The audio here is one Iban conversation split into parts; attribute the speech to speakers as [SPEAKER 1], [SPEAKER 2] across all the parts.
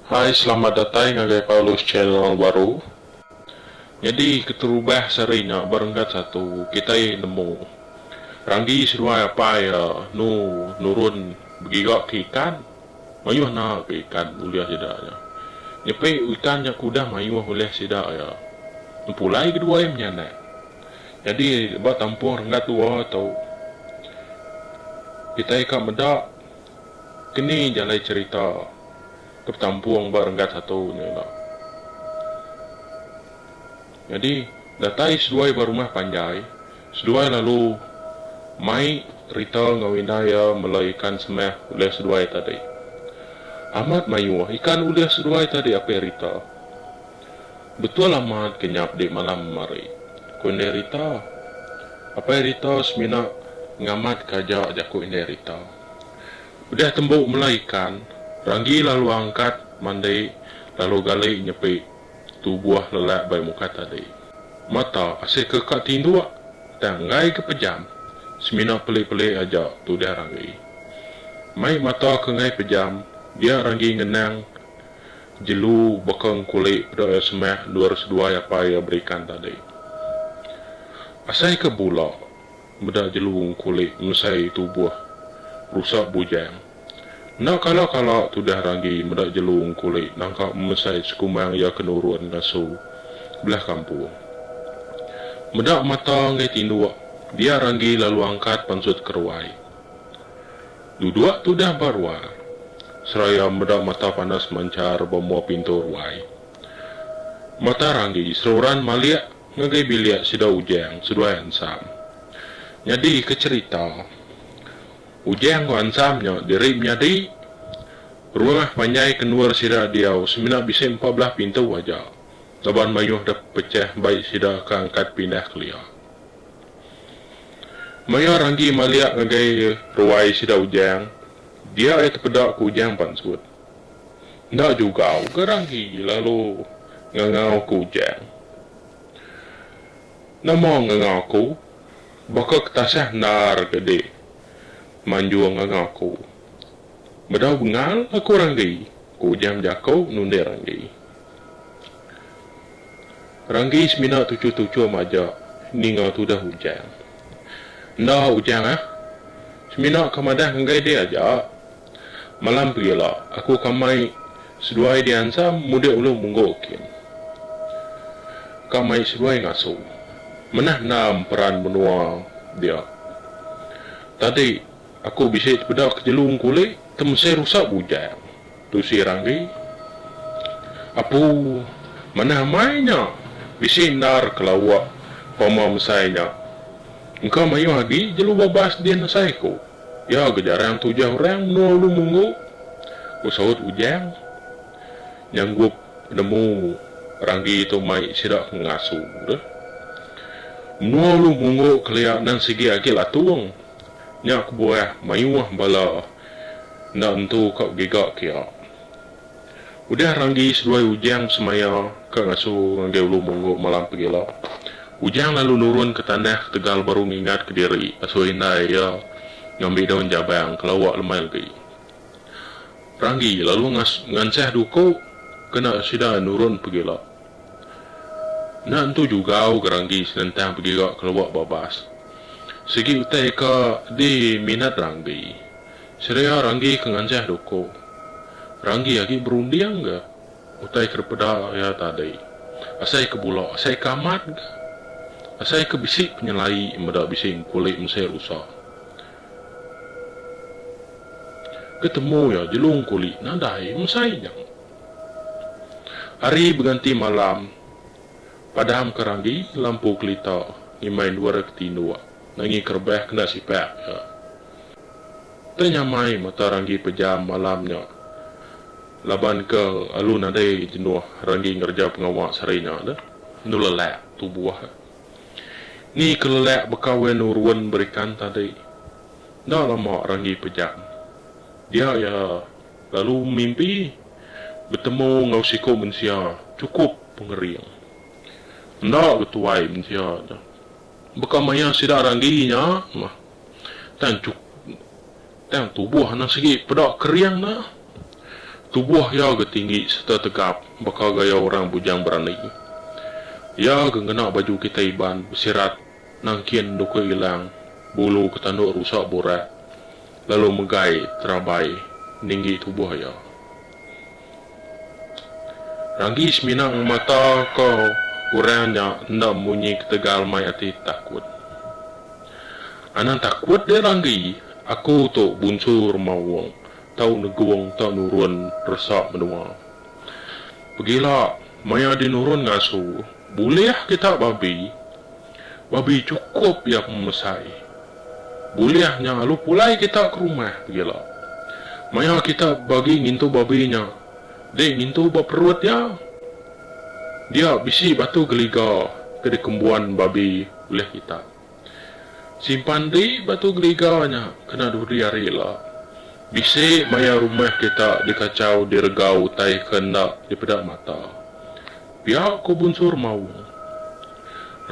[SPEAKER 1] Hai selamat datai ngagai Paulus channel baru. Nyadi keterubah sehari nya berenggat satu kitai nemu Randi seduai apai iya nu nurun begiga ke ikan mayuh na ke ikan ulih sida nya nyepi ikan nya ke udah mayuh ulih sida iya nempulai kedua iya menyanak nyadi ba tampung renggat dua tu kitai ka meda Keni jalai cherita ke betampung ba renggat satu nya ila. Nyadi, datai seduai ba rumah panjai, seduai lalu mai rita enggau indai iya mela ikan semah ulih seduai tadi. Amat mayuh ikan ulih seduai tadi apih rita. Betul amat ke nyap di malam hari, ku Indai Rita. Apai Rita semina ngamatka aja jaku Indai Rita. Udah tembu mela ikan, Ranggi lalu angkat mandi lalu gali nyepi tubuh lelak bai muka tadi. Mata asika ka tinduk tang enggai ke pejam. Semina pelik-pelik aja tudah Ranggi. Mai mata ke enggai pejam, dia Ranggi ngenang. Jelu baka engkuli peda iya semah endor seduai apai iya beri ikan tadi. Asai ke bula meda jelu engkuli ngesai tubuh rusak bujang. Enda kala kala tudah ragi meda jelu engkuli nangka mesai sekumang iya ke nurun ngasu belah kampung. Meda mata enggai tinduk dia ragi lalu angkat pansut ke ruai. Duduk tudah ba ruang seraya meda mata panas manchar ba mua pintu ruai. Mata Ranggi seruran malik ngagai bilik sida Ujang seduai Ansam. Nyadi ke cherita, Ujang enggau Ansam nya diri menyadi. Rumah panjai ke endur sida diau semina bisi empat belah pintu aja laban mayuh dep pechah bai sida ke angkat pindah kelia. Maya Ranggi maliak ngagai ruai sida Ujang, dia ai tepeda ku Ujang pansut. Enda jugau ga Ranggi lalu ngangau ku Ujang. Nama ngangau aku? Baka ketasah endar ga dik manjung ngangau aku. Bedau bengal aku Ranggi, ku Ujang bejako nunding Ranggi. Ranggi semina tuchum-tuchum aja ninga tudah Ujang. Enda Ujang ah. Semina ka madah ngagai dek aja. Malam pegila aku ka mai seduai diansam mudek ulun munggu kin. Ka mai seduai ngasu. Manah endam peran menua dia. Tadi aku bisi tepeda ke jelu engku ulih temesai rusak Ujang. Tusi Randi, Apu, manah amai nya bisi endar ke lawa pama mesai nya. Engka mayuh agi jelu babas din asai ku iya ga jarang tujah orang menua Ulu Munggu, ku saut Ujang nyanggup penemu Randi tu mai sida ke ngasu deh. Menua Ulu Munggu kelia nan sigi agi Latung nya kebuah mayuh bala. enda entu ka giga kia. Udah ranggi seduai Ujang semaya ka ngasu ngagai Ulu Munggu malam pegila, Ujang lalu nurun ke tanah ketegal baru ngingat ke diri asui indai iya ngambi daun jabang ke lawa lemai legi. Ranggi lalu ngansah duku kena sida nurun pegila. Nya entu jugau Geranggi senentang begira kelua babas. Sigi utai ka di minat Ranggi. Serea Ranggi ke nganjah duku. Ranggi agi berunding ga utai ke dipeda iya tadi. Asai ke bula, asai ke amat ga. Asai ke bisi penyelai meda bisi engkuli mesai rusa. Ke temu iya jelu engkuli nadai mesai nya. Ari beganti malam, padam ke randi lampu kelita ngimbai endur ke tinduk ngangi ke rebah kena sipak iya. Tang nyamai mata randi pejam malam nya laban ke alu nadai jenuh randi ngereja pengawa sehari nya dah enu lelak tubuh iya. Ni ke lelak baka weh enu run berikan tadi. Enda lama randi pejam dia iya Lalu mimpi betemu enggau siku mensia chukup pengering. Enda betuai mensia nya. Baka maya sida randi nya mah. Tang chuk tang tubuh anak sigi peda kering nya. Tubuh iya ga tinggi serta tegap baka gaya orang bujang berani. Iya ga ngena baju kitai Iban besirat Nangkin nduka ilang bulu ke tanduk rusak burak lalu megai terabai ninggi tubuh iya. Ranggi semina ngemata ka orang nya enda munyi ketegal mai ati takut. Anang takut deh Ranggi, aku tu bunsu Remaung tau negung tau nurun resa menua. Pegila maya dinurun ngasu bulih kita babi Babi chukup iya pemesai. Bulih nya lalu pulai kita ke rumah begila. Maya kita bagi ngintu babi nya, dek ngintu ba perut iya. Dia bisi batu geliga ke dikembuan babi ulih kita. Simpan ri batu geliga nya kena duri ari ila. Bisi maya rumah kita dikachau direga utai ke enda dipeda mata. Pia ko Bunsur Maung.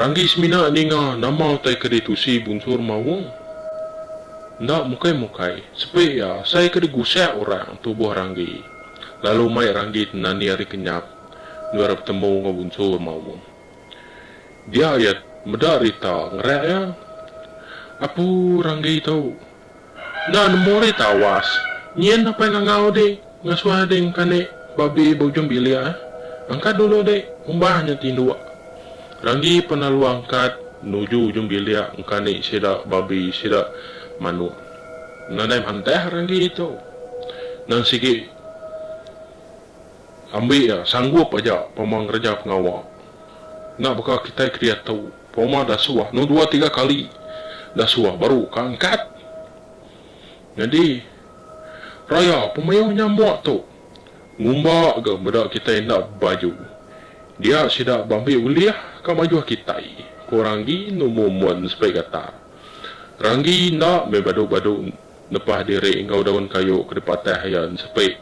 [SPEAKER 1] Ranggi semina ninga nama utai ke ditusi Bunsur Maung. Enda mukai-mukai, sepi iya asai ke digusak orang tubuh Ranggi lalu mai Ranggi tenani ari kenyap endur iya betemu enggau Bunsur Maung. Dia iya meda rita ngerak iya. Apu Ranggi tu. Enda nemu deh tawas. Nyin apai ngangau dek ngasuh dek engka dek babi beujung bilik ai. Angkat dulu dek umbah nya tinduk. Ranggi pan lalu angkat nuju ujung bilik engka dek sida babi sida manuk. Nadai mantah ranggi tu. Nan sigi. Ambi iya sanggup aja pama ngereja pengawa. Enda baka kitai ke diatu, pama dasuh anu dua tiga kali dasuh baru ka angkat. Nyadi, raya pemayuh nyambuk tu ngumba ga meda kitai enda bebaju. Dia sida beambi ulih ka majuh kitai, ku Ranggi numu mun sebai gatar. Ranggi enda meh badu-badu. Lepas diri enggau daun kayu ke dipatah iya ensepi,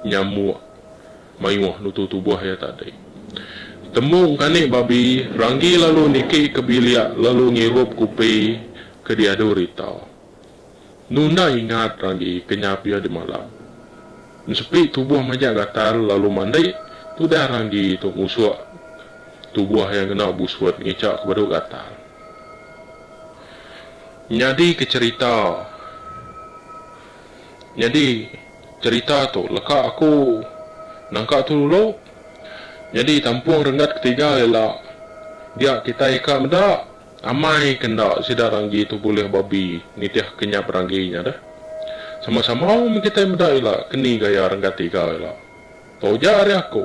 [SPEAKER 1] nyamuk mayuh nutu tubuh iya tadi. Temu engkani babi, Ranggi lalu niki ke bilik lalu ngirup kupi ke diadu Rita. Nu enda ingat Ranggi kenyap iya dimalap. Ensepi tubuh majak gatal lalu mandi, tudah Ranggi tu ngusuk tubuh iya ngena busut ngichak ke badu gatal. Nyadi ke cerita Nyadi cerita tu leka aku nangka tu dulu. Nyadi tampung renggat ketiga ila dia kitai ka meda amai ke enda sida ranggi tu bulih babi nitih ke nyap ranggi nya deh. Sama sama meh kitai meda ila ke ni gaya renggat tiga ila. Tau ja ari aku.